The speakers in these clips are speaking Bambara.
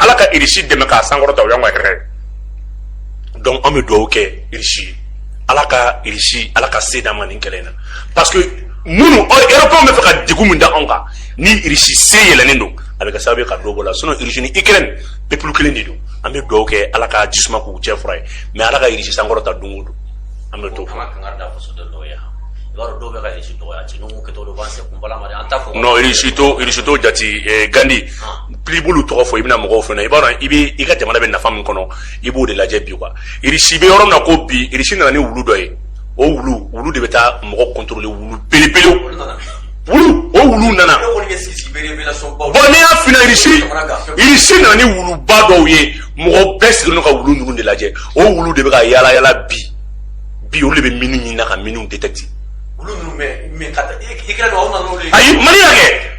ala ka irisi dɛmɛ k'a sankɔrɔta o y'an ka hɛrɛ donc an bɛ dugawu kɛ irisi ala ka irisi ala ka se d'an ma nin kɛlɛ in na parce que minnu européen bɛ fɛ ka degun min da anw kan ni irisi se yɛlɛnnen don a bɛ kɛ sababu ye ka dɔ bɔ la sinon irisi ni ukraine peuple kelen de don an bɛ dugawu kɛ ala ka ji suma k'u cɛ fura ye mais ala ka irisi sankɔrɔta don o don an bɛ t'o fɔ. non irisi to irisi to jati eh, gandi. Ah. pli b'olu tɔgɔ fɔ i bɛna mɔgɔw fana i b'a dɔn i bɛ i ka jamana bɛ nafa min kɔnɔ i b'o de lajɛ bi quoi irisi bɛ yɔrɔ min na ko bi irisi nana ni wulu dɔ ye o wulu wulu de bɛ taa mɔgɔ contrôler wulu belebele wulu o wulu nana bon n'i y'a fina irisi irisi nana ni wuluba dɔw ye mɔgɔ bɛɛ sigilen ka wulu ninnu de lajɛ o wulu de bɛ ka yaala yaala bi bi olu de bɛ mini ɲini na ka miniw détecter ayi mali y'a kɛ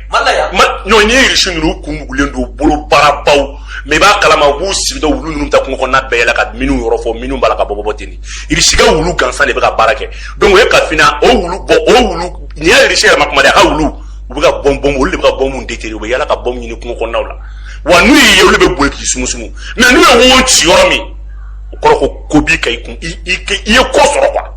ɲɔgɔn n'i ye irisi ninnu kun mugulen don bolo baarabaw mais i b'a kalama u b'u sigida wulu ninnu taa kungo kɔnɔna bɛɛ yala ka miniw yɔrɔ fɔ miniw b'a la ka bɔ bɔ bɔ ten irisi ka wulu gansan de bɛ ka baara kɛ donc o ye kafina o wulu bɔ o wulu n'i y'a irisi yɛrɛ ma kuma de a ka wulu u bɛ ka bɔn bɔn olu de bɛ ka bɔnmu déterrer u bɛ yala ka bɔnmu ɲini kungo kɔnɔnaw la wa n'u y'i ye olu bɛ boli k'i sumusumu mais n'u ye wo ci yɔrɔ min o kɔrɔ ko ko b'i ka i kun i ye ko sɔrɔ quoi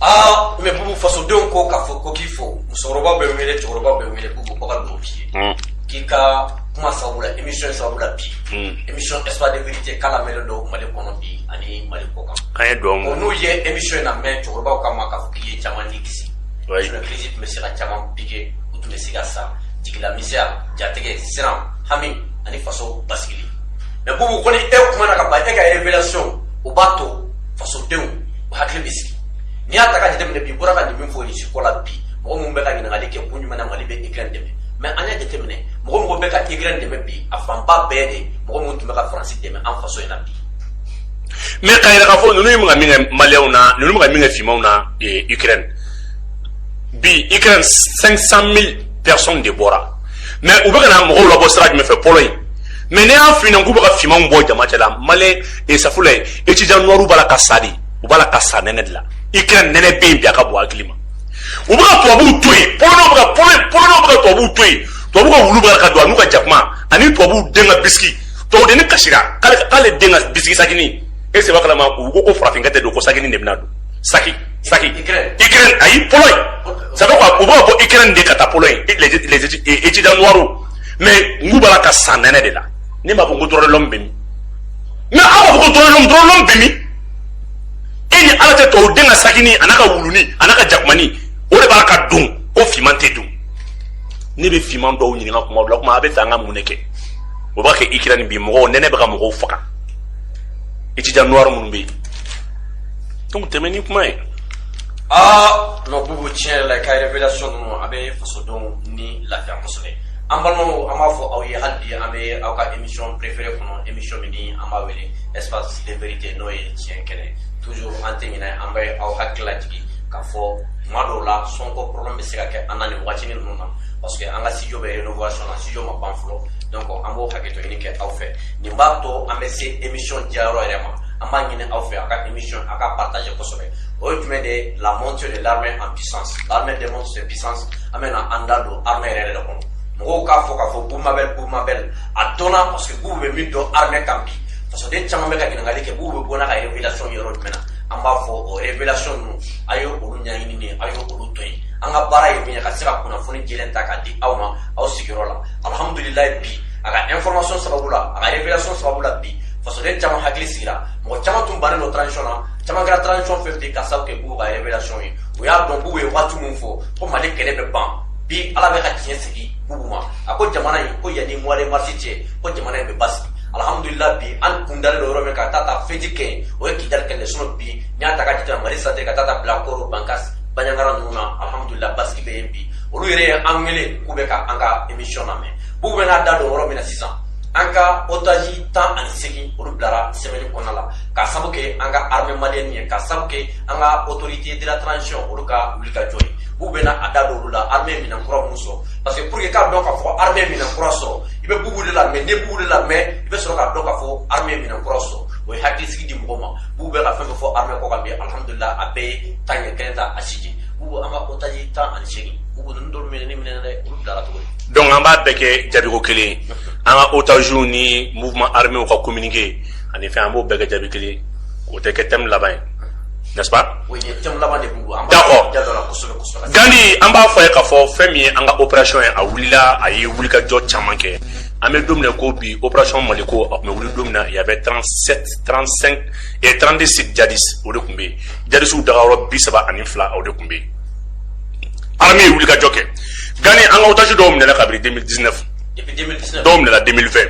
aa mais bubu fasodenw ko k'a fɔ ko k'i fo musokɔrɔbaw bɛ wele cɛkɔrɔbaw bɛ wele bubu ko ka dugawu k'i ye hmm. k'i ka kuma sababu la émission sababu la bi hmm. émission espoir de vérité k'a lamɛnlen don mali kɔnɔ bi ani mali kɔkan an ye dugawu minɛ n'u ye émission in namɛn cɛkɔrɔbaw ka ma k'a fɔ k'i ye caman ni kisi sinon crise tun bɛ se ka caman piquer u tun bɛ se ka sa jigilamisɛnya jatigɛ siran hami ani faso basigili mais bubu ko ni e kumana ka ban e ka révélation o b'a to fasodenw hakili bɛ sigi n'i y'a ta ka jateminɛ bi bɔra ka nin min fɔ irisi ko la bi mɔgɔ minnu bɛ ka ɲininkali kɛ kun jumɛn na mali bɛ ukraine dɛmɛ mais an y'a jateminɛ mɔgɔ mɔgɔ bɛ ka ukraine dɛmɛ bi a fanba bɛɛ de mɔgɔ minnu tun bɛ ka faransi dɛmɛ an faso in na bi mais k'a yira k'a fɔ ninnu ye ka min kɛ maliyɛnw na ninnu bɛ ka min kɛ finmanw na ukraine bi ukraine 500 000 personnes de bɔra mais u bɛ ka na mɔgɔw labɔ sira jumɛn fɛ pologne mais ne y'a f'i ɲɛna k'u bɛ ka finmanw bɔ jama cɛ la maliyɛn e safula ye étudiant noirs b'a la ka sa de u b'a la ka sa nɛnɛ de la ukraine nɛnɛ bɛ yen bi a ka bon hakili ma u bɛ ka tubabuw to yen polonɛw bɛ ka polonɛw bɛ ka tubabuw to yen tubabu ka wulu b'a la ka don an'u ka jakuma ani tubabuw den ka bisiki tubabudenni kasira k'ale den ka bisiki sakini e sɛbɛ kalama u ko ko farafinkɛ tɛ don ko sakini de bɛna don saki saki ukraine ayi pologne sɛbɛ ko u bɛ ka bɔ ukraine de ka taa pologne les étudiants noirs mais n k'u b'a la ka sa nɛnɛ de la ne m'a fɔ n ko droit de l'homme bɛ min mais aw b'a fɔ ko droit de l'homme droit de l'homme bɛ min e ni ala tɛ tɔw den ka sagini a n'a ka wuluni a n'a ka jakumani o de b'a ka don ko finman tɛ don ne bɛ finman dɔw ɲininka kuma dɔ la kuma a bɛ fɛ an ka mun de kɛ o b'a kɛ Ukraine bi mɔgɔw nɛnɛ bɛ ka mɔgɔw faga étudiant noir minnu bɛ yen donc tɛmɛ ni kuma ye aa non bubu tiɲɛ yɛrɛ la i ka révélation ninnu a bɛ fasodenw ni lafiya kosɛbɛ an balimaw an b'a fɔ aw ye hali bi an bɛ aw ka émission préférée kɔnɔ émission min ni an b'a wele espace de vérité n'o ye tiɲɛ kɛnɛ toujours an tɛ ɲinɛ an bɛ aw hakili lajigin k'a fɔ tuma dɔw la son ko problème bɛ se ka kɛ an na nin waati ninnu na parce que an ka studio bɛ rénovation na studio ma ban fɔlɔ donc an b'o hakɛto ɲini kɛ aw fɛ nin b'a to an bɛ se émission diyayɔrɔ yɛrɛ ma an b'a ɲini aw fɛ a ka émission a k'a partager kosɛbɛ o ye jumɛn de ye la montée de l'armée en puissance l'armée démontre ses puissances an bɛna an da don armée yɛrɛ de kɔnɔ mɔgɔw k'a fɔ k'a fɔ bubu mabel bubu mabel a dɔnna parce que bubu bɛ min dɔn armée kan bi fasoden caman bɛ ka ɲininkali kɛ bubu bɛ bɔ n'a ka révélation yɔrɔ jumɛn na an b'a fɔ o révélation ninnu a ye olu ɲɛɲini de a ye olu to yen an ka baara ye min ye ka se ka kunnafoni jɛlen ta k'a di aw ma aw sigiyɔrɔ la alhamdulilayi bi a ka information sababu la a ka révélation sababu la bi fasoden caman hakili sigira mɔgɔ caman tun bannen don transition na caman kɛra transition fan fɛ ka sabu kɛ bubu ka révélation ye u y'a dɔn bubu ye waati min fɔ ko mali kɛlɛ bɛ ban bi ala bɛ ka tiɲɛ sigi bubu ma a ko jamana in ko yanni mois de mars cɛ ko jamana in bɛ basigi alhamdulila bi an kun dalen don yɔrɔ min ka taa ta fɛti kɛ yen o ye kidali kɛlɛ sinon bi n'i y'a ta ka jate mali centre ka taa ta bila koro bankas baɲangara ninnu na alhamdulila basigi bɛ yen bi olu yɛrɛ ye an wele k'u bɛ ka an ka émission lamɛn bubu bɛ n'a da don yɔrɔ min na sisan an ka otage tan ani seegin olu bilara semaine in kɔnɔna la ka sabu kɛ an ka armée malienne ye ka sabu kɛ an ka autorité de la transition olu ka wulikajɔ ye bubu bɛna a da don olu la armée minɛn kura minnu sɔrɔ parce que pour que k'a dɔn k'a fɔ armée minɛn kura sɔrɔ i bɛ bubu de lamɛn n'i ye bubu de lamɛn i bɛ sɔrɔ k'a dɔn k'a fɔ armée minɛn kura sɔrɔ o ye hakilisigi di mɔgɔ ma bubu bɛ ka fɛn fɛn fɔ armée kɔ kan bi alhamdulila a bɛɛ ye tiɲɛ kelen t'a si jɛ bubu an ka otage tan ani seegin bubu ninnu dɔw minɛni mɛɛnna dɛ olu bilara cogo di donc an b'a bɛɛ kɛ jaabiko kelen an ka otagew ni mouvement arméw ka communiqué ani fɛn an b'o bɛɛ kɛ jaabi kelen o tɛ kɛ thème laban ye n'est-ce pas d'accord gandi an b'a fɔ ye k'a fɔ fɛn min ye an ka opération ye a wulila a ye wulikajɔ caman kɛ an bɛ don min na ko bi opération maliko a tun bɛ wuli don min na il y avait 37 35 et 32 sites djihadistes o de tun bɛ yen djihadisiw dagayɔrɔ bi saba ani fila o de tun bɛ yen armée ye wulikajɔ kɛ gandi an ka otage dɔw minɛla kabiri 2019 dɔw minɛla 2020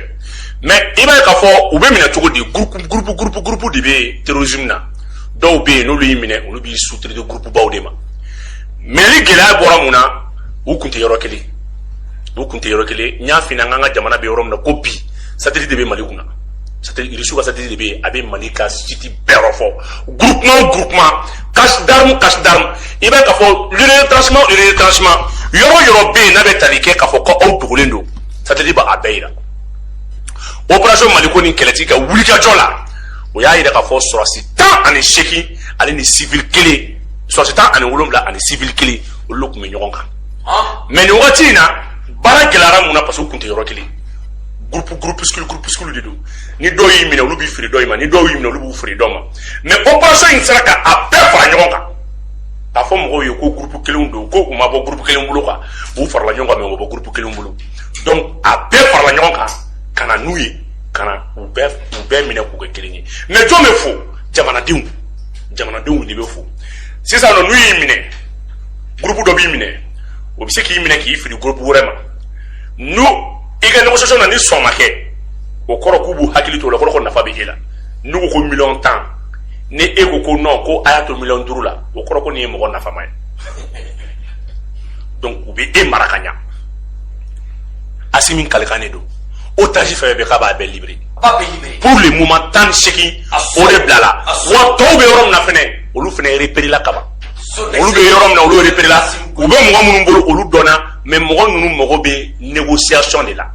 mais i b'a ye k'a fɔ u bɛ minɛ cogo di groupe groupe groupe groupe de bɛ terrorisme na dɔw bɛ yen n'olu y'i minɛ olu b'i sous-traiter gurupubaw de ma mais ni gɛlɛya bɔra mun na u kun tɛ yɔrɔ kelen u kun tɛ yɔrɔ kelen n y'a f'i ɲɛna an ka jamana bɛ yɔrɔ min na ko bi satellite de bɛ mali kunna irisiw ka satellite de bɛ yen a bɛ mali ka site bɛɛ yɔrɔ fɔ groupement o groupement cache d'arme cache d'arme i b'a ye k'a fɔ le retranchement le retranchement yɔrɔ yɔrɔ bɛ yen n'a bɛ tali kɛ k'a fɔ ko aw dogolen don satellite b'a bɛɛ yira opération maliko ni kɛlɛtigi ka wulikajɔ la o y'a jira k'a fɔ sɔrɔsi tan ani seegin ale ni sivili kelen sɔrɔsi tan ani wolonwula ani sivili kelen olu tun bɛ ɲɔgɔn kan mais nin wagati in na baara gɛlɛyara mun na parce que u tun tɛ yɔrɔ kelen gurupu groupuscule groupuscule de don ni dɔw y'i minɛ olu b'i feere dɔ in ma ni dɔw y'i minɛ olu b'u feere dɔ ma mais opération in sera ka a bɛɛ fara ɲɔgɔn kan k'a fɔ mɔgɔw ye ko gurupu kelenw don ko u ma bɔ gurupu kelen bolo kan u farala ɲɔgɔn kan mais u ma bɔ gurupu kelen bolo donc a bɛɛ farala ɲɔgɔn kan ka na n'u ye ka na u bɛɛ u bɛɛ minɛ k'u kɛ kelen ye mais jɔn bɛ fo jamanadenw jamanadenw de bɛ fo sisan nɔ n'u y'i minɛ gurupu dɔ b'i minɛ o bɛ se k'i minɛ k'i fili gurupu wɛrɛ ma n'u i ka négociation na ni sɔn ma kɛ o kɔrɔ k'u b'u hakili to o la o kɔrɔ ko nafa bɛ e la n'u ko ko miliyɔn tan ni e ko ko non ko a y'a to miliyɔn duuru la o kɔrɔ ko nin ye mɔgɔ nafama ye donc u bɛ e mara ka ɲa asimi kalikan de don otage fɛn bɛɛ k'a b'a bɛɛ libéré pour le moment tan ni seegin o de bilala wa tɔw bɛ yɔrɔ min na fɛnɛ olu fɛnɛ reperela kaban olu bɛ yɔrɔ min na olu reperela u bɛ mɔgɔ minnu bolo olu dɔnna mais mɔgɔ ninnu mago bɛ négociation de la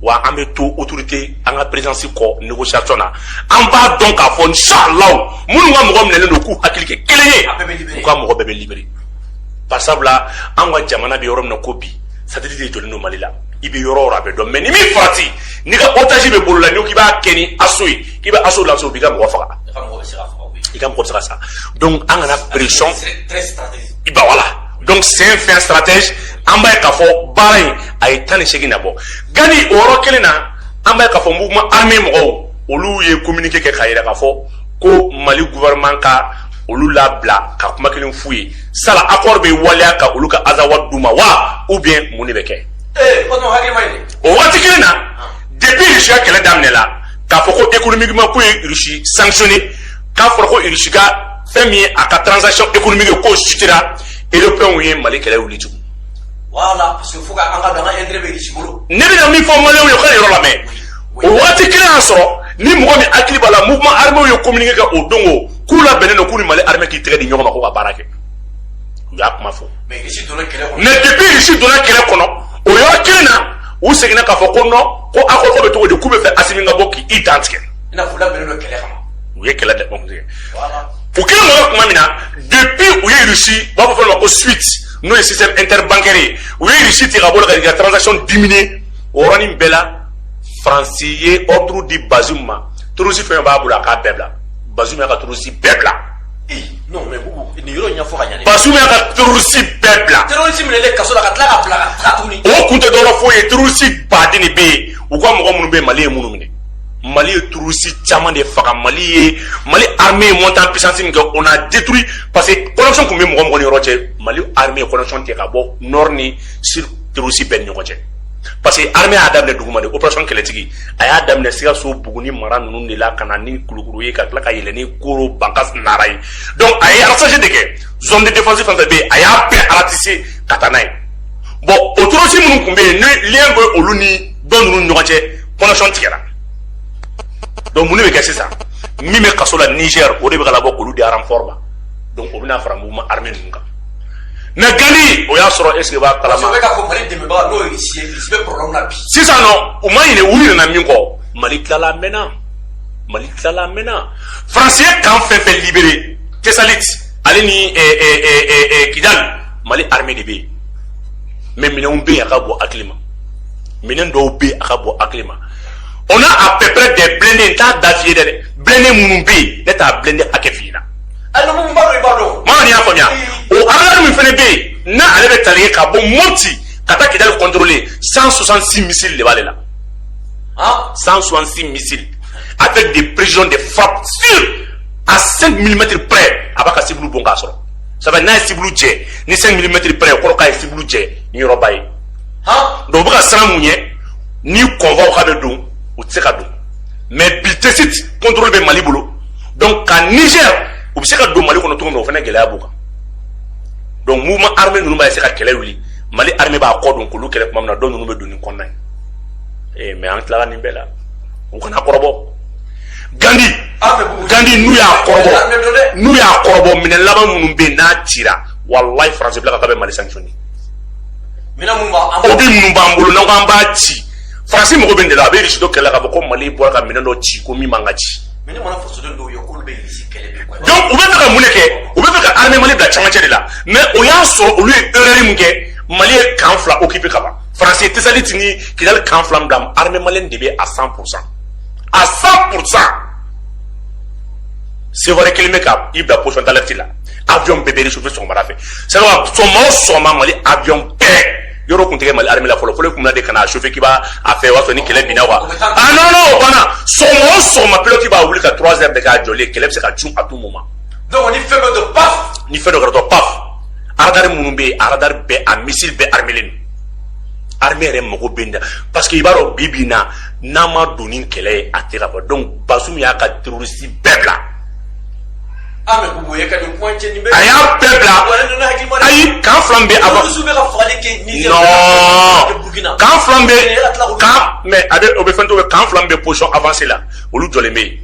wa an bɛ to autorité an ka présidence kɔ négociation na an b'a dɔn k'a fɔ inshallah minnu ka mɔgɔ minɛlen don k'u hakili kɛ kelen ye u ka mɔgɔ bɛɛ bɛ libéré bari sabula an ka jamana bɛ yɔrɔ min na ko bi satellite de jɔlen don mali la i bɛ yɔrɔ o yɔrɔ a bɛ dɔn mais ni min farati n'i ka otage bɛ bolo la n'i ko k'i b'a kɛ ni assaut ye k'i bɛ assaut lancer o b'i ka mɔgɔ faga i ka mɔgɔ bɛ se ka faga koyi. i ka mɔgɔ bɛ se ka sa donc an kana pression Très- très stratégique. i ba voilà donc c'est un fin stratège an b'a ye k'a fɔ baara in a ye tan ni seegin nabɔ gani o yɔrɔ kelen na an b'a ye k'a fɔ mouvement armé mɔgɔw olu ye communiqué kɛ k'a yira k'a fɔ ko mali gouvernement ka olu labila ka kuma kelen f'u ye sala accord bɛ waleya ka olu ka azawad d'u ma wa ou bien mun de bɛ kɛ o waati kelen na ah. depuis rusi ka kɛlɛ daminɛ la k'a fɔ ko économiquement k'u ye rusi sanctionné k'a fɔra ko rusi ka fɛn min ye a ka transaction économique ye k'o sutira européens ye mali kɛlɛ wuli tugun voilà parce que fo ka an k'a dɔn an ka intérêt bɛ rusi bolo ne bɛna min fɔ maliyɛnw ye u ka yɔrɔ lamɛn o waati kelen y'a sɔrɔ ni mɔgɔ min hakili b'a la mouvement armé ye communiqué kɛ o don o k'u labɛnnen don k'u ni mali armée k'i tɛgɛ di ɲɔgɔn ma k'u ka baara kɛ u y'a kuma fɔ mais depuis irisi donna kɛlɛ kɔnɔ o yɔrɔ kelen na u seginna k'a fɔ ko non ko accord ko bɛ cogo di k'u bɛ fɛ asimi ka bɔ k'i dantigɛ u ye kɛlɛ dɛmɛ tigɛ u kelen mɔgɔ tuma min na depuis u ye irisi u b'a fɔ fɛn dɔ ma ko SWIFT n'o ye système interbancaire ye u ye irisi tigɛ ka bɔ la k'a ka transaction diminuer o yɔrɔnin bɛɛ la faransi ye ordre di Bazoum ma terroriste fɛn fɛn b'a bolo a k'a bɛɛ bila Bazoum y'a ka terroriste bɛɛ bila. non mais Boubou nin yɔrɔ in ɲɛfɔ ka ɲɛ. Bazoum y'a ka terroriste bɛɛ bila. terroriste minɛlen kaso la ka tila ka bila ka taa tuguni. o kun tɛ dɔwɛrɛ foyi ye terroriste baden de bɛ yen u ka mɔgɔ minnu bɛ yen Mali ye minnu minɛ. Mali ye terroriste caman de faga Mali ye Mali armée ye montée en puissance min kɛ on a détruit parce que connexion tun bɛ mɔgɔ mɔgɔ ni yɔrɔ cɛ Mali armée ye connexion tigɛ ka bɔ nord ni sud terroriste bɛɛ ni ɲɔgɔn cɛ parce que armée y'a daminɛ duguma de operation kɛlɛtigi a y'a daminɛ sikaso buguni mara ninnu de la ka na ni kulukɔrɔ ye ka tila ka yɛlɛ ni koro bankas nara ye donc a ye ratissage de kɛ zone de défense fɛn fɛn bɛ yen a y'a bɛɛ ratisser ka taa n'a ye bon o terroriste minnu tun bɛ yen ni lien bɛ olu ni dɔ ninnu ɲɔgɔn cɛ connexion tigɛra donc mun de bɛ kɛ sisan min bɛ kaso la niger o de bɛ ka labɔ k'olu di renfort ma donc o bɛna fara mouvement armé ninnu kan mais gandi o y'a sɔrɔ est-ce que i b'a kalama sisan non u ma ɲinɛ u ɲinɛna min kɔ mali tilala min na mali tilala min na faransi ye camp fɛn fɛn libérer tessalit ale ni kidal mali armée de bɛ yen mais minɛnw bɛ yen a ka bon hakili ma minɛn dɔw bɛ yen a ka bon hakili ma on a à peu près des blindés n t'a da f'i ye dɛ blindés minnu bɛ yen ne t'a blindé hakɛ f'i ɲɛna n'i y'a faamuya o radar min fana bɛ yen n'a ale bɛ tali kɛ ka bɔ moti ka taa kidali contrôler cent soixante six missiles de b'ale la cent soixante six missiles avec des précisions de frappe sûre à 5 mm près a b'a ka sibulu bon k'a sɔrɔ ça fait n'a ye sibulu jɛ ni 5 mm près o kɔrɔ k'a ye sibulu jɛ ni yɔrɔba ye donc u bɛ ka siran mun ɲɛ ni convoiw ka bɛ don u tɛ se ka don mais bi tessalit contrôle bɛ mali bolo donc ka niger u bɛ se ka don mali kɔnɔ cogo min o fana gɛlɛya b'u kan donc mouvement armé ninnu b'a se ka kɛlɛ wuli mali armée b'a kɔ don k'olu kɛlɛ tuma min na dɔ ninnu bɛ don ni kɔnɔna ye ee mais an tilala nin bɛɛ la u kana kɔrɔbɔ gandi gandi n'u y'a kɔrɔbɔ n'u y'a kɔrɔbɔ minɛn laban minnu bɛ yen n'a cira walayi faransi bila ka taa bɛ mali sanctionner o bi minnu b'an bolo n'an ko an b'a ci faransi mago bɛ nin de la a bɛ risidɔ kɛlɛ la k'a fɔ ko mali bɔra ka minɛn dɔ ci ko min man ka ci mɛ ne mana fasoden dɔw ye k'olu bɛ irisi kɛlɛ bi quoi donc u b'a fɛ ka mun de kɛ u b'a fɛ ka armée mali bila camancɛ de la mais o y'a sɔrɔ olu ye erreur min kɛ mali ye camp fila occuper ka ban faransi ye tesaliti ni kidali camp fila min bila armée malienne de bɛ à 100 pourcent à 100 pourcent sewari kelen bɛ ka i bila position d'alerte la avion bɛɛ bɛ réchauffer sɔgɔmada fɛ c'est à dire sɔgɔma o sɔgɔma mali avion bɛɛ yɔrɔ kun tɛ kɛ mali armée la fɔlɔ fɔlɔ i kun bɛ na de ka n'a chauffer k'i b'a a fɛ o y'a sɔrɔ ni kɛlɛ binna wa ah non non o banna sɔgɔma o sɔgɔma pilote b'a wuli ka 3 heures de k'a jɔlen kɛlɛ bɛ se ka cun à tout moment donc ni fɛn dɔ don paf ni fɛn dɔ kɛra dɔrɔn paf radar minnu bɛ yen a radar bɛɛ a missile bɛɛ armelen don armée yɛrɛ mago bɛ nin na parce que i b'a dɔn bi bi in na n'an ma don ni kɛlɛ ye a tɛ ka bɔ donc Bazoum y'a ka terroriste bɛɛ bila a y'a bɛɛ bila ayi camp fila bɛ a non camp fila bɛ kan mɛ a bɛ o bɛ fɛn to bɛ camp fila bɛ position avancée la olu jɔlen bɛ yen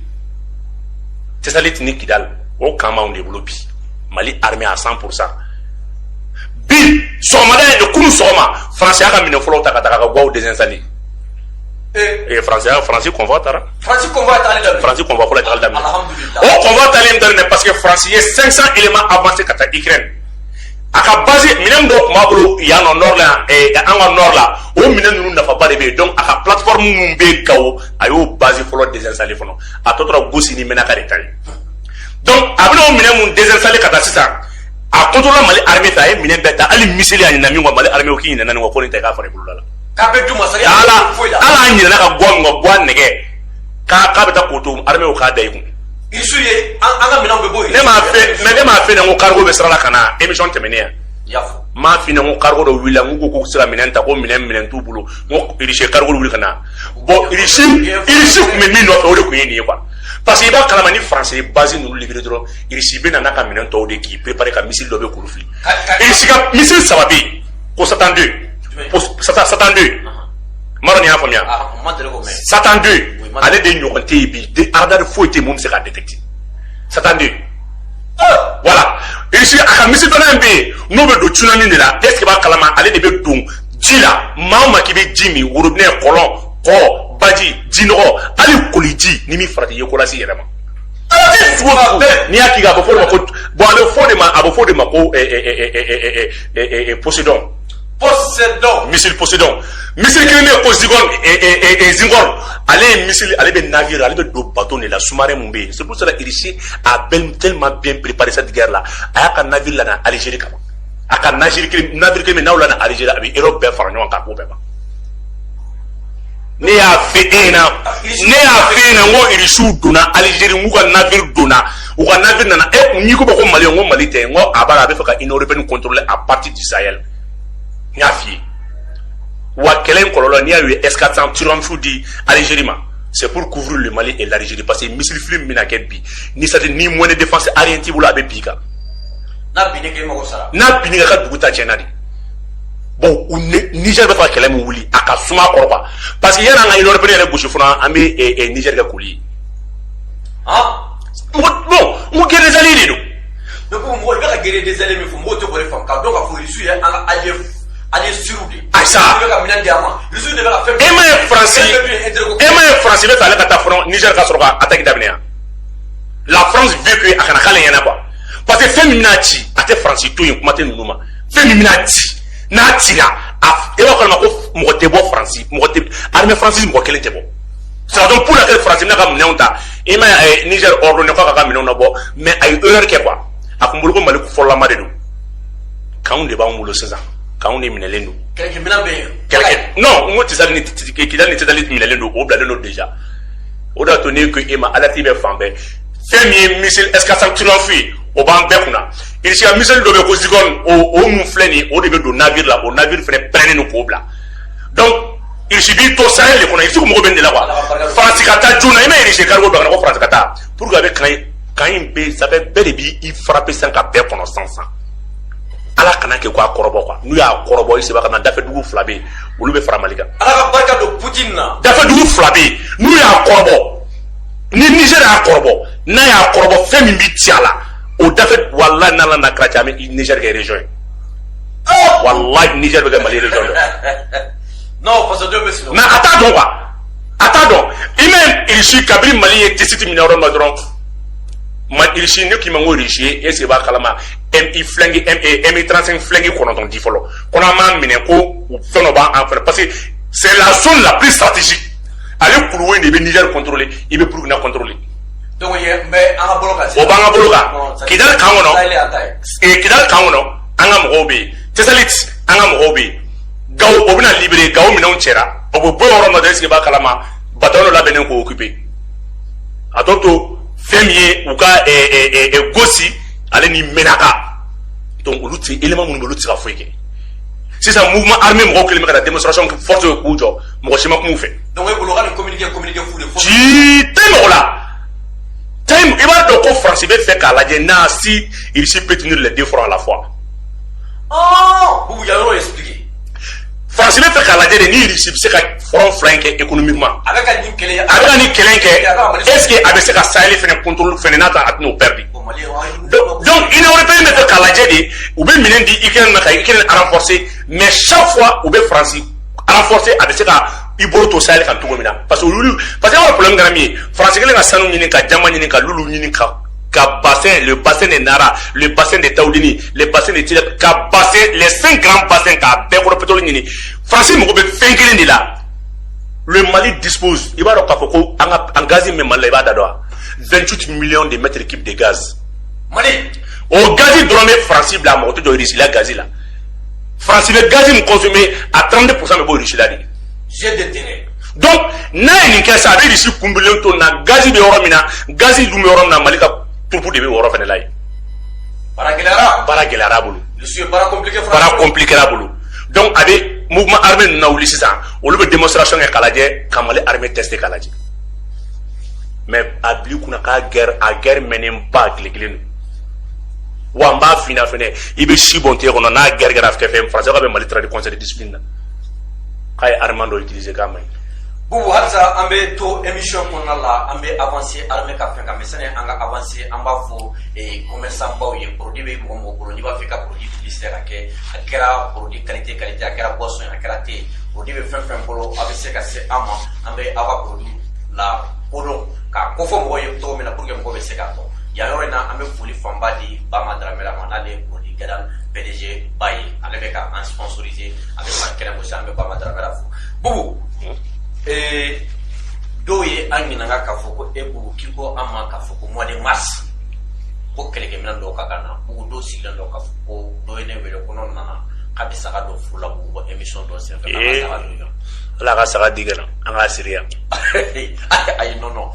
Tɛsaliti ni Kidali o camp b'anw de bolo bi Mali armée à 100 pour cent bi sɔgɔmada in de kunu sɔgɔma France y'a ka minɛn fɔlɔw ta ka taa ka Gawo désinstaller ee faransi faransi convoi taara faransi convoi taali daminɛ faransi convoi fɔlɔ taali daminɛ alhamdulilayi o convoi taali min daminɛ parce que faransi ye 500 éléments avancé ka taa Ukraine a ka base minɛn dɔ tun b'a bolo yan nɔ nord la eh, an ka nord la o minɛn ninnu nafaba de bɛ yen donc a ka plateforme minnu bɛ Gawo a y'o base fɔlɔ désinstallé fɔlɔ a tɔ tora Gosi ni Menaka de ta ye donc a bɛna o minɛn minnu désinstallé ka taa sisan a contrôle Mali armée fɛ a ye minɛn bɛɛ ta hali miseli a ɲinɛna min kɔ Mali armée o k'i ɲinɛna nin kɔ ko nin ta k'a fara i boloda la k'a bɛ du masakɛ ala ala a ɲinɛna a ka gwa nɛgɛ k'a k'a bɛ taa k'o to armée k'a da i kun isu ye an ka minɛnw bɛ bɔ yen ne m'a fɛ mɛ ne m'a f'i ɲɛna ko cargo bɛ sira la ka na émission tɛmɛnen yan y'a fɔ m'a f'i ɲɛna ko cargo dɔ wulila n ko k'u se ka minɛn ta ko minɛn minɛn t'u bolo n ko irisi cargo wulila ka na bɔ irisi irisi tun bɛ min nɔfɛ o de tun ye nin ye quoi parce que i b'a kalama ni faransi base ninnu libere dɔrɔn irisi bɛ na n'a ka minɛn tɔw de k'i préparer ka missile dɔ bɛ kuru fili irisi ka missile saba bɛ yen ko satan 2 ko satan satan 2 m'a dɔn n'i y'a faamuya satan 2 ale de ɲɔgɔn tɛ yen bi de aradari foyi tɛ yen min bɛ se k'a détecter satan 2 voilà irisi a ka missile dɔ fana bɛ yen n'o bɛ don tsunami de la est-ce que b'a kalama ale de bɛ don ji la maa o maa k'i bɛ ji min worobinɛ kɔlɔn kɔ baji jinɔgɔ hali koliji ni min farati ye ko lase i yɛrɛ ma n'i y'a k'i kan a bɛ fɔ de ma ko bɔn a bɛ fɔ de ma a bɛ fɔ de ma ko Poséidon Poséidon missile Poséidon missile kelen bɛ yen ko Zircon Zircon ale ye missile ale bɛ navire ale bɛ don bato de la sous-marin min bɛ yen c'est pour cela irisi a tellement bien préparé cette guerre là a y'a ka navire lana Algérie kama a ka navire kelen navire kelen bɛ n'aw lana Algérie a bɛ Europe bɛɛ fara ɲɔgɔn kan a k'o bɛɛ ban ne y'a fɔ e ɲɛna ne y'a fɔ e ɲɛna n ko irisiw donna alizeri n k'u ka naviri donna u ka naviri nana e kun n'i ko ko mali n ko mali tɛ n ko a b'a a bɛ fɛ ka union européenne contrôler à partir du sahel n y'a f'i ye wa kɛlɛ in kɔlɔlɔ n'i y'a ye S400 triomphe di alizeri ma c'est pour couvrir le mali et l'algérie parce que missile fili bɛna kɛ bi ni c'est-à-dire ni moyen de défense aérien t'i bolo a bɛ bin i kan n'a binna i kan i mago sara n'a binna i kan i ka dugu ta tiɲɛna dɛ bon u niger bɛ fɛ ka kɛlɛ min wuli a ka suma an kɔrɔ quoi parce que yan'an ka union européenne yɛrɛ gosi fana an bɛ eh, eh, niger kɛ koli ye ah? bon n ko guerre des alliés de don ne ko mɔgɔ i bɛ ka guerre des alliés min fɔ mɔgɔw tɛ k'o de faamu k'a dɔn k'a fɔ russe ye an ka allié allié sûr de ye irisiya bɛ ka minɛn di an ma russe de bɛ ka fɛn e m'a ye faransi e m'a ye faransi bɛ fɛ ale ka taa fo niger ka sɔrɔ ka attaque daminɛ yan la france veut que a kana k'ale ɲɛna quoi parce que fɛn min bɛna ci a tɛ faransi to yen kuma tɛ ninnu ma fɛn min bɛna ci n'a cira a e b'a kalama ko mɔgɔ tɛ bɔ faransi mɔgɔ tɛ armée française mɔgɔ kelen tɛ bɔ c'est raison pour laquelle faransi bɛna a ka minɛnw ta i m'a ye niger ordonné k'a k'a ka minɛnw labɔ mais a ye erreur kɛ quoi a kun b'a bolo ko mali ko fɔlɔlama de don kanw de b'anw bolo sisan kanw de minɛlen don kɛlɛkɛ minɛn bɛ yen kɛlɛkɛ non n ko tesalit ni kidali ni tesalit minɛlen don o bilalen don déjà o de y'a to ne ko e ma alerte bɛ fan bɛɛ fɛn min ye missile S400 triomphe ye o b'an bɛɛ kunna Irisiya missile dɔ bɛ ko Zircon o min filɛ nin o de bɛ don naviri la o naviri fana parenen don k'o bila donc irisi b'i to sahel kɔnɔ i sigi mɔgɔ bɛ de la quoi faransi ka taa joona i ma irisi kari don ko faransi ka taa pour que ka ka in bɛ sɛbɛn bɛɛ de b' i fara bɛ san ka bɛɛ kɔnɔ sansan ala kana kɛ k'a kɔrɔbɔ quoi n'u y'a kɔrɔbɔ i saba ka na dafɛdugu fila bɛ olu bɛ fara mali kan ala ka barika don Putin na dafɛdugu fila bɛ n'u y'a kɔrɔbɔ ni niger y'a kɔrɔbɔ n'a y'a kɔrɔbɔ fɛn min bɛ ci a la o dafɛ walayi n'ala na kɛra cɛ an bɛ Niger kɛ région ye oh! walayi Niger bɛ kɛ Mali région dɔ non fasodenw bɛ sigi mais a t'a dɔn quoi a t'a dɔn i m'a ye Russie kabiri Mali ye tesalit minɛ yɔrɔ min na dɔrɔn ma Russie ne k'i ma ko Russie ye est-ce que i b'a kalama MI Flanker MI 35 Flanker kɔnɔntɔn di fɔlɔ ko n'an m'a minɛ ko fɛn dɔ b'an fɛ parce que c'est la zone la plus stratégique ale couloir in de bɛ Niger contrôler i bɛ Burkina contrôler donc yen bɛ an ka bolo kan o b'an ka bolo kan kidali kan kɔnɔ kidali kan kɔnɔ an ka mɔgɔw bɛ yen tesalit an ka mɔgɔw bɛ yen gawo o bɛna libérer gawo minɛnw cɛra o bɛ bɔ yɔrɔ nɔ dɛ est-ce que i b'a kalama bataillon dɔ labɛnnen k'o occuper a tɔ to fɛn min ye u ka gosi ale ni menaka donc olu tɛ élément minnu bɛ olu tɛ se ka foyi kɛ sisan mouvement armé mɔgɔw kɛlen bɛ ka taa démonstration force ye k'u jɔ mɔgɔ si ma kuma u fɛ donc e bolo ka nin communiqué communiqué fu de fosi tɛ mɔgɔ la time i b'a dɔn ko faransi bɛ fɛ k'a lajɛ n'a si irisi peut tenir les deux fronts à la fois ɔɔ bubu ya yɔrɔ expliqué faransi bɛ fɛ k'a lajɛ de ni irisi bɛ se ka front fila in kɛ économiquement a bɛ ka nin kɛlɛ a bɛ ka nin kɛlɛ in kɛ est ce que a bɛ se ka saheli fɛnɛ contrôler fɛnɛ n'a ta a tɛna o perdre donc donc union européenne bɛ fɛ k'a lajɛ de u bɛ minɛn di ukraine ma ka ukraine renforcer mais chaque fois u bɛ faransi renforcer a bɛ se ka i bolo to saheli kan cogo min na parce parce que problème kɛra min ye faransi ka sanu ɲini ka jama ɲini ka lulu ɲini ka ka bassin le bassin de nara le bassin de tawudini le bassin de ti ka bassin les 5 grands bassins ka bɛɛ kɔrɔ pétrole ɲini faransi mako bɛ fɛn kelen de la le mali dispose i b'a dɔn k'a fɔ ko an ka an gazi min mali la i b'a da dɔn wa 28 millions de mètres cubes de gaz mali o gazi dɔrɔn bɛ faransi bila mako tɛ jɔ irisi la gazi la faransi bɛ gazi min consommé a 32 pourcent bɛ bɔ irisi la de j'ai des terrains donc n'a ye nin kɛ sa a bɛ irisi kunbililen to nin na gazi bɛ yɔrɔ min na gazi dun bɛ yɔrɔ min na mali ka turupu de bɛ o yɔrɔ fana la yen baara gɛlɛyara baara gɛlɛyara a bolo baara compliqué baara compliqué a bolo donc a bɛ mouvement armé ninnu lawuli sisan olu bɛ démonstration kɛ k'a lajɛ ka mali armée tester k'a lajɛ mais a bil'i kunna k'a guerre a guerre mɛnnenba tile kelen don wa n b'a fina fɛnɛ i bɛ si bɔn tile kɔnɔ n'a gɛrɛgɛra fɛ fɛn faransi ka bɛ mali traduire conseil de discipline na k'a ye armement dɔ utiliser k'a man ɲi bubu halisa an bɛ to émission kɔnɔna la an bɛ avancer armée ka fɛn kan mais sani an ka avancer an b'a fɔ eh, commerçant baw ye produit bɛ mɔgɔ mɔgɔ bolo n'i b'a fɛ ka produit publicité ka kɛ a kɛra produit qualité qualité a kɛra boisson ye a kɛra thé ye produit bɛ fɛn fɛn bolo a bɛ se ka se an ma an bɛ aw ka produit lakodɔn k'a kofɔ mɔgɔw ye cogo min na pour que mɔgɔw bɛ se k'a dɔn Ya yɔrɔ in na an bɛ foli fanba di bama daramera ma n'ale produit kɛra PDG ba ye ale bɛ ka an sponsoriser a bɛ san kɛnɛ muso an bɛ bama daramera fo bubu ee dɔw ye an ɲininka k'a fɔ ko e bubu k'i ko an ma k'a fɔ ko mois de mars ko kɛlɛkɛminɛn dɔw ka ka na bubu dɔw sigilen don k'a fɔ ko dɔ ye ne wele ko n'o nana k'a bɛ saga dɔ furu la bugu bɔ émission dɔ senfɛ ala ka saga di ka na an k'a siri yan ayi non non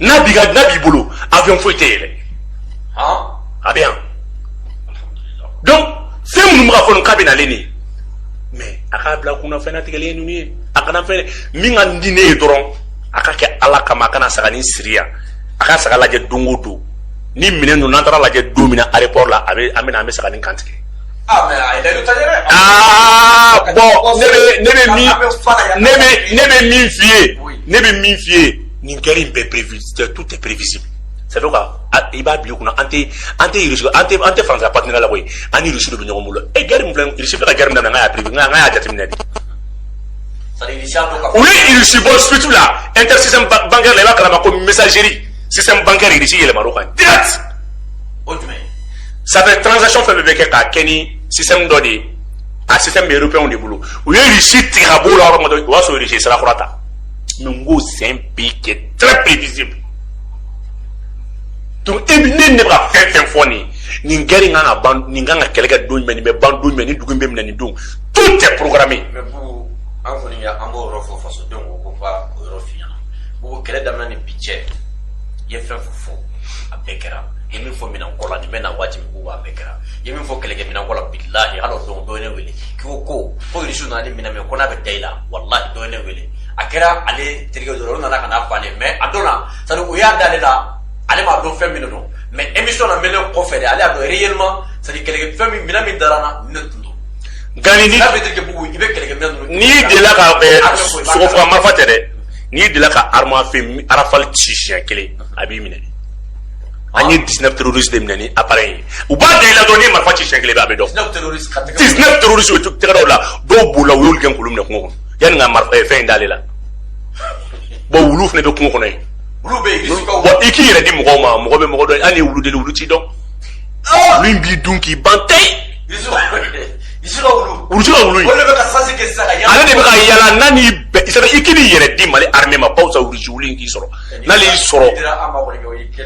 n'a b'i ka n'a b'i bolo avion foyi tɛ yɛlɛ a bɛ yan donc fɛn minnu bɛ ka fɔ nin k'a bɛ nalen nin mais a k'a bila kunna fɛn natigɛlen ye ninnu ye a kana fɛn min ka di ne ye dɔrɔn a ka kɛ ala kama a kana saganin siri yan a ka saga lajɛ don o don ni minɛn ninnu n'an taara lajɛ don min na aéroport la a bɛ an bɛ na an bɛ saganin kan tigɛ Ah, mais a ye layidu ta yɛrɛ. Aa bon ne bɛ ne bɛ min ne bɛ ne bɛ min f'i ye ne bɛ min f'i ye nin guerre in bɛɛ prévisible tout est prévisible c'est donc i b'a bila i kunna an tɛ an tɛ irisi an tɛ an tɛ faransa partenaire la koyi an ni irisi de bɛ ɲɔgɔn bolo e guerre min filɛ irisi bɛ ka guerre min daminɛ n k'a y'a prévu n k'a y'a jateminɛ de. u ye irisi bɔ SWIFT la inter système bancaire la i b'a kalama ko messagerie système bancaire irisi yɛlɛmal'o kan direct. o jumɛn. ça fait transaction fɛn bɛɛ bɛ kɛ k'a kɛ ni système dɔ de ye a système bɛ européen de bolo u ye Russie tigɛ ka b'o la yɔrɔ min dɔrɔn o y'a sɔrɔ Russie ye sira kura ta mais n ko c'est un pays qui est très prévisible donc e bɛ ne ne bɛ ka fɛn fɛn fɔ nin ye nin guerre in kan ka ban nin kan ka kɛlɛ kɛ don jumɛn nin bɛ ban don jumɛn nin dugu in bɛ minɛ nin don tout est programmé. mais bubu an kɔni y'a an b'o yɔrɔ fɔ fasodenw ko ko ka o yɔrɔ f'i ɲɛna bubu kɛlɛ daminɛ ni bi cɛ i ye fɛn fɛn fɔ a bɛɛ kɛra. ye min fɔ minɛnko la nin bɛ na waati min k'u b'a bɛɛ kɛra i ye min fɔ kɛlɛkɛminɛnko la bilahi hali o don dɔ ye ne wele k'i ko ko ko irisiw nana ni minɛn min ko n'a bɛ da i la walahi dɔ ye ne wele a kɛra ale terikɛ dɔ la olu nana ka n'a fɔ ale m'a dɔn na c'est-à-dire u y'a da ale la ale m'a dɔn fɛn min don mais émission lamɛnnen kɔfɛ de ale y'a dɔn réellement c'est-à-dire kɛlɛkɛ fɛn min minɛn min dara n na ne tun don gandi ni n'a bɛ terikɛ bubu i bɛ kɛlɛkɛ minɛn ninnu n'i delila ka sogofagamarifa tɛ dɛ n'i delila ka arme à feu rafale ci siɲɛ kelen a b'i minɛ an ye 19 terroriste de minɛ ni appareil ye u b'a da i la dɔrɔn n'i ye marifa ci siɲɛ kelen bɛ a bɛ dɔn 19 terroriste ka tɛgɛ 19 terroriste u tɛgɛ da u la dɔw bolila u y'olu gɛn k'olu minɛ kungo kɔnɔ yanni ka marifa fɛn in d'ale la bon wulu fana bɛ kungo kɔnɔ yen wulu bɛ yen bon i k'i yɛrɛ di mɔgɔw ma mɔgɔ bɛ mɔgɔ dɔn hali ni wulu deli wulu t'i dɔn wulu in b'i dun k'i ban tewu irisi ka wulu in ale de bɛ ka yala n'a n'i bɛn i k'i b'i yɛrɛ di mali armée ma bawo sa irisi wulu in k'i sɔrɔ n'ale y'i sɔrɔ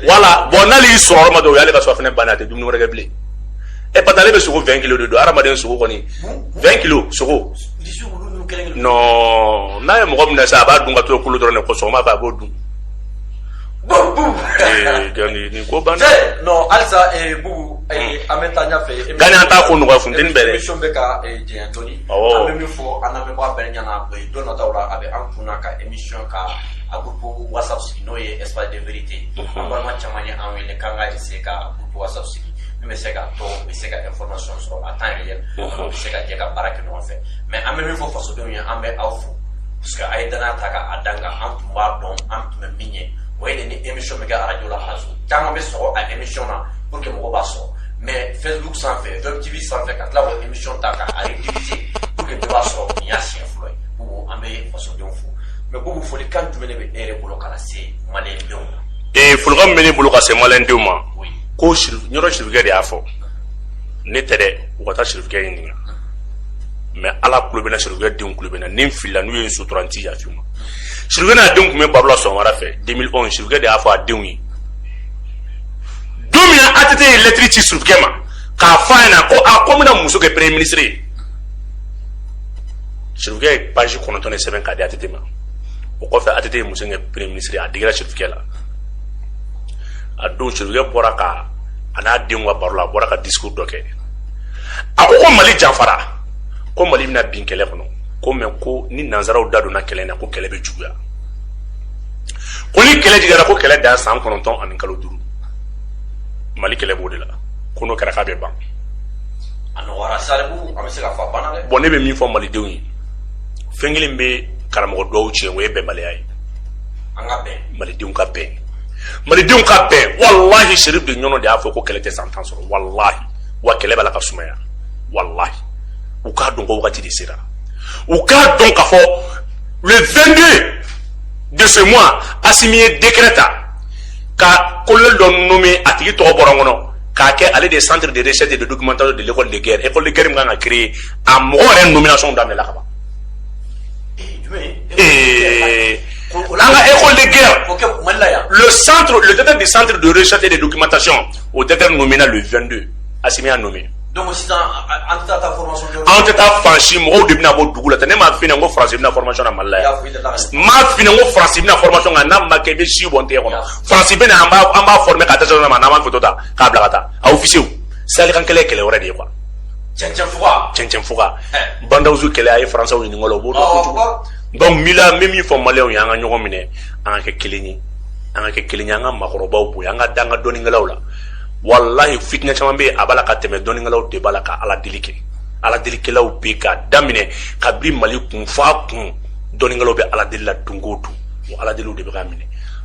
voilà bon n'ale y'i sɔrɔ yɔrɔ min dɔrɔn o y'ale ka surɔfana bannen ye a tɛ dumuni wɛrɛ kɛ bilen ɛ parce que ale bɛ sogo 20 kilo de dun hadamaden sogo kɔni 20 kilo sogo non n'a ye mɔgɔ minɛ sa a b'a dun ka to kolo dɔrɔn de ko sɔgɔma fɛ a b'o dun nin ko banna non halisa bubu an bɛ taa ɲɛfɛ gandi an t'a ko nɔgɔya funteni bɛ dɛ émission bɛ ka janya dɔɔni an bɛ min fɔ an lamɛnbaga bɛɛ ɲɛna don nataw la a bɛ an kunna ka émission ka a groupe whatsapp sigi n'o ye espace de vérité mhm. an balima caman ye an wele k'an ka essayer ka groupe whatsapp sigi min bɛ se ka to u bɛ se ka information sɔrɔ à temps réel u mhm. bɛ se ka jɛ ka baara kɛ ɲɔgɔn fɛ mais an bɛ min fɔ fasodenw ye an bɛ aw fo parce que a ye danaya ta k'a da an kan an tun b'a dɔn an tun bɛ min ye o ye de ni émission bɛ kɛ arajo la arajo caman bɛ sɔgɔ a émission na pour que mɔgɔw b'a sɔrɔ mais facebook sanfɛ web tv sanfɛ ka tila k'o émission ta k'a rediffuser pour que bɛɛ b'a sɔrɔ nin y'a siɲɛ fɔlɔ ye ko an bɛ fasodenw fo mais ko folikan jumɛn de bɛ e yɛrɛ bolo ka se maliyɛndenw ma ee folikan min bɛ ne bolo ka se maliyɛndenw ma ko ɲɔrɔ sirifukɛ de y'a fɔ ne tɛ dɛ u ka taa sirifukɛ ɲininka mais ala kulo bɛna sirifukɛ denw kulo bɛna ni n filila n'u ye n sutura n ti yafa ma sirifukɛ n'a denw tun bɛ baro la sɔgɔmada fɛ 2011 sirifukɛ de y'a fɔ a denw ye don min na ATT ye lɛtiri ci sirifukɛ ma k'a fɔ a ɲɛna ko a ko n bɛna muso kɛ premier ministre ye sirifukɛ ye page kɔnɔntɔn de sɛbɛn k'a di ATT ma o kɔfɛ ATT ye muso kɛ premier ministre a digira sirifukɛ la a don sirifukɛ bɔra ka a n'a denw ka baro la a bɔra ka discours dɔ kɛ a ko ko mali janfara ko mali bɛna bin kɛlɛ kɔnɔ ko mais ko ni nanzaraw da donna kɛlɛ na ko kɛlɛ bɛ juguya ko ni kɛlɛ jigira ko kɛlɛ dan san kɔnɔntɔn ani kalo duuru mali kɛlɛ b'o de la ko n'o kɛra k'a bɛ ban a nɔgɔyara saribu an bɛ se k'a fɔ a banna dɛ bon ne bɛ min fɔ malidenw ye fɛn kelen bɛ karamɔgɔ dɔw tiɲɛ o ye bɛnbaliya ye an ka bɛn malidenw ka bɛn malidenw ka bɛn walahi sherif de ɲɔrɔ de y'a fɔ ko kɛlɛ tɛ san tan sɔrɔ walahi wa kɛlɛ b'a la ka sumaya walahi u k'a dɔn ko wagati de sera u k'a dɔn k'a fɔ le 22 de ce mois asimi ye décret ta ka kolonɛli dɔ nommé a tigi tɔgɔ bɔra n kɔnɔ k'a kɛ ale de centre de recherche et de documentation de l'école de guerre école de guerre min kan ka créer a mɔgɔ yɛrɛ nomination daminɛla ka ban an ka école de guerre le centre le directeur du centre de recherche et de documentation o directeur nomina le 22 Assimi y'a nommé donc sisan an tɛ taa formation kɛ an tɛ taa faransi mɔgɔw de bɛna bɔ dugu la tɛ ne m'a f'i ɲɛna ko faransi bɛ na formation na mali la yan n m'a f'i ɲɛna ko faransi bɛ na formation nka n'a ma kɛ i bɛ si bɔ n tɛgɛ kɔnɔ faransi bɛ na an b'a an b'a former ka dɛsɛ ma n'an b'a foto ta k'a bila ka taa a ofisiyew saheli kan kɛlɛ ye kɛlɛ wɛrɛ de ye quoi cɛncɛn fuga cɛncɛn fuga bandawusu kɛlɛ a ye faransɛw ɲininka o la o b'o dɔn kojugu donc n b'i la n bɛ min fɔ maliyɛnw ye an ka ɲɔgɔn minɛ an ka kɛ kelen ye an ka kɛ kelen ye an ka maakɔrɔbaw bonya an ka da an ka dɔnnikɛlaw la walahi fitinɛ caman bɛ yen a b'a la ka tɛmɛ dɔnnikɛlaw de b'a la ka ala deli kɛ ala delikɛlaw bɛ ka daminɛ kabini mali kun f'a kun dɔnnikɛlaw bɛ ala deli la don o don o ala deliw de bɛ ka minɛ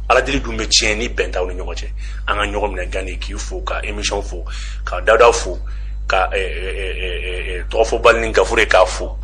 ala deli dun bɛ tiɲɛ ni bɛn t'aw ni ɲɔgɔn cɛ an ka ɲɔgɔn minɛ gani k'i fo ka emission fo ka dawuda fo ka eh, eh, eh, tɔgɔfɔbali ni gafure k'a fo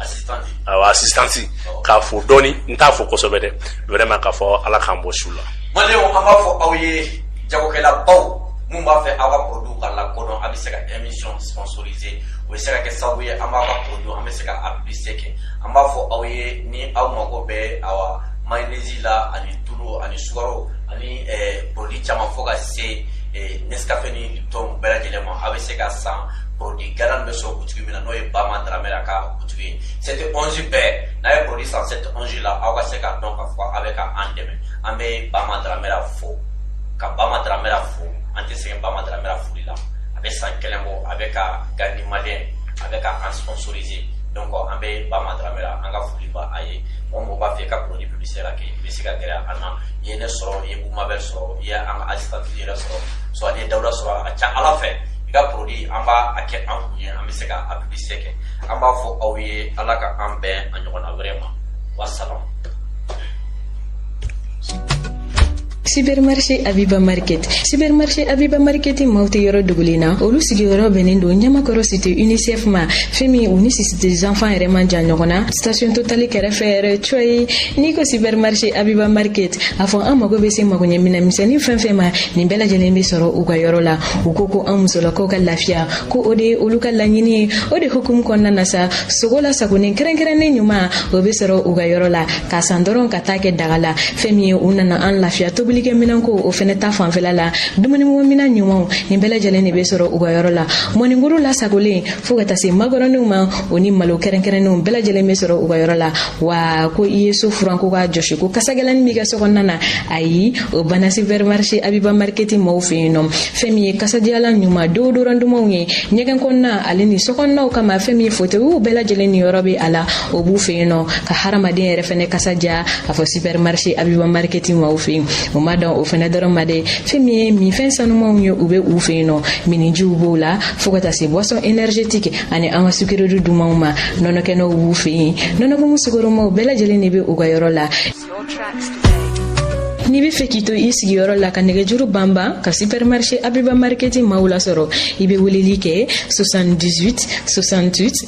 awa asistansi k'a fo dɔɔni n t'a fo kosɛbɛ dɛ vraiment k'a fɔ ala k'an bɔ su la maliyɛnw an b'a fɔ aw ye jagokɛlabaw mun b'a fɛ aw ka produit ka lakodɔn a bɛ se ka emission sponsoriser o bɛ se ka kɛ sababu ye an b'a ka produit an bɛ se ka publicité kɛ an b'a fɔ aw ye ni aw mago bɛ awa mayonnaise la ani tulu ani sukaro ani eh, produit caman fo ka se eh, Nescafe ni Lipton bɛɛ lajɛlen ma a bɛ se ka san produit galan bɛ sɔrɔ butigi min na n'o ye Bama Dramera ka butigi ye sept onze bɛɛ n'a ye produit san sept onze la aw ka se k'a dɔn k'a fɔ a bɛ ka an dɛmɛ an bɛ Bama Dramera fo ka Bama Dramera fo an tɛ sɛgɛn Bama Dramera foli la a bɛ san kelen bɔ a bɛ ka Gandhi Malien a bɛ ka an sponsoriser donc an bɛ Bama Dramera an ka foli b'a ye. mɔgɔ mɔgɔ b'a fɛ i ka produit publicité la kɛ i bɛ se ka gɛrɛ an na i ye ne sɔrɔ i ye Boumabel sɔrɔ i ye an ka assistant yɛrɛ sɔrɔ soit n'i ye Dawuda sɔrɔ a ka ca Ala fɛ i ka produit an b'a a kɛ an kun ye an bɛ se ka a publicité kɛ an b'a fɔ aw ye Ala ka an bɛn a ɲɔgɔnna wɛrɛ ma wa salam Supermarché Abiba Market Supermarché Abiba Market maaw tɛ yɔrɔ dogolen na olu sigiyɔrɔ bɛnnen don Ɲamakɔrɔ cité UNICEF ma fɛn min u ni cité des enfants yɛrɛ man jan ɲɔgɔn na station totale kɛrɛfɛ yɛrɛ coyi n'i ko Supermarché Abiba Market a fɔ an mago bɛ se magoɲɛ minɛn misɛnnin fɛn fɛn ma nin bɛɛ lajɛlen bɛ sɔrɔ u ka yɔrɔ la u ko ko an musolakaw ka lafiya ko o de ye olu ka laɲini ye o de hukumu kɔnɔna na sa sogo lasagolen kɛrɛnkɛrɛnnen ɲuman o bɛ sɔrɔ u ka yɔrɔ la k'a san dɔrɔn ka taa kɛ daga la fɛn min ye u nana an lafiya tobilikɛ minɛnko o fɛnɛ ta fanfɛla la dumunimɔminɛn ɲumanw nin bɛɛ lajɛlen de bɛ sɔrɔ u ka yɔrɔ la mɔninkuru lasagolen fo ka taa se makɔrɔninw ma o ni malo kɛrɛnkɛrɛnnenw bɛɛ lajɛlen bɛ sɔrɔ u ka yɔrɔ la wa ko i ye so furan ko k'a jɔsi ko kasagɛlɛni b'i ka sokɔnɔna na ayi o banna supermarché Abiba Market mɔgɔw fɛ yen nɔ fɛn min ye kasadiyalan ɲuman déodorant dumanw ye ɲɛgɛn kɔnɔna ale ni sokɔnɔnaw kama fɛn min ye fotewiw bɛɛ lajɛlen niyɔrɔ bɛ a la o b'u fɛ yen nɔ ka hadamaden yɛrɛ fɛnɛ kasa diya a fɔ supermarché Abiba Market maaw fɛ yen o ma dan o fɛnɛ dɔrɔn ma dɛ fɛn min ye minfɛn sanumanw ye u bɛ u fɛ yen nɔ minnijiw b'o la fo ka taa se boisson énergétique ani an ka sucrerie dumanw ma nɔnɔkɛnɛw b'u fɛ yen nɔnɔkumu sukoromaw bɛɛ lajɛlen de bɛ u ka yɔrɔ la n'i b'a fɛ k'i to i sigiyɔrɔ la ka nɛgɛjuru banban ka supermarché Abiba Market maaw lasɔrɔ i bɛ weleli kɛ 78 68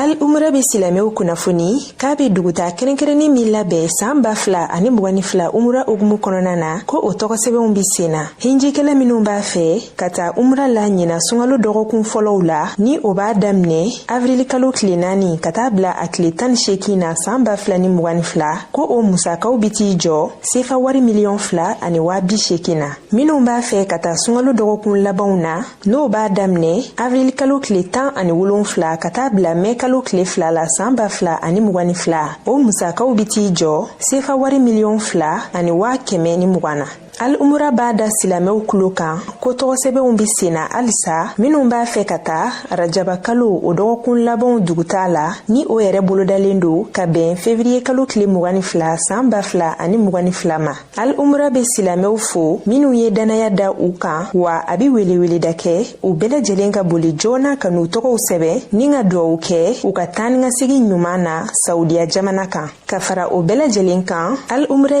al umra be silamɛw kunnafoni k'a be dugutaa kɛrɛnkɛrɛnnen min labɛn san ba fila ani mugan ni fila umra hukumu kɔnɔna na ko o tɔgɔsɛbɛnw be sen na hijikɛla minw b'a fɛ ka taa umra la ɲinan sunkalo dɔgɔkun fɔlɔw la ni o b'a daminɛ avirilikalo tile naani ka taa bila a tile tan ni seegin na san ba fila ni mugan ni fila ko o musakaw be t'i jɔ sefa wari miliyɔn fila ani waa bi seegin na minw b'a fɛ ka taa sunkalo dɔgɔkun labanw na n'o b'a daminɛ avril kalo tile tan ani wolonfila ka taa bila mɛ kalo tile fila la saan ba fila ani mugan ni fila o musakaw be t'i jɔ sefa wari miliyɔn fila ani waa kɛmɛ ni mugan na al umura b'a da silamɛw tulo kan ko tɔgɔsɛbɛnw be senna halisa minw b'a fɛ ka taa rajaba kalo o dɔgɔkun labanw dugutaa la ni o yɛrɛ bolodalen don ka bɛn fevriye kalo tile mugan ni fila saan ba fila ani mugan ni fila ma al umra be silamɛw fo minw ye dannaya da u kan wa a be weleweleda kɛ u bɛɛ lajɛlen ka boli joona ka n'u tɔgɔw sɛbɛn ni ka duwawu kɛ u ka taanikasegin ɲuman na saudiya jamana kan ka fara o bɛɛ lajɛlen kan al umra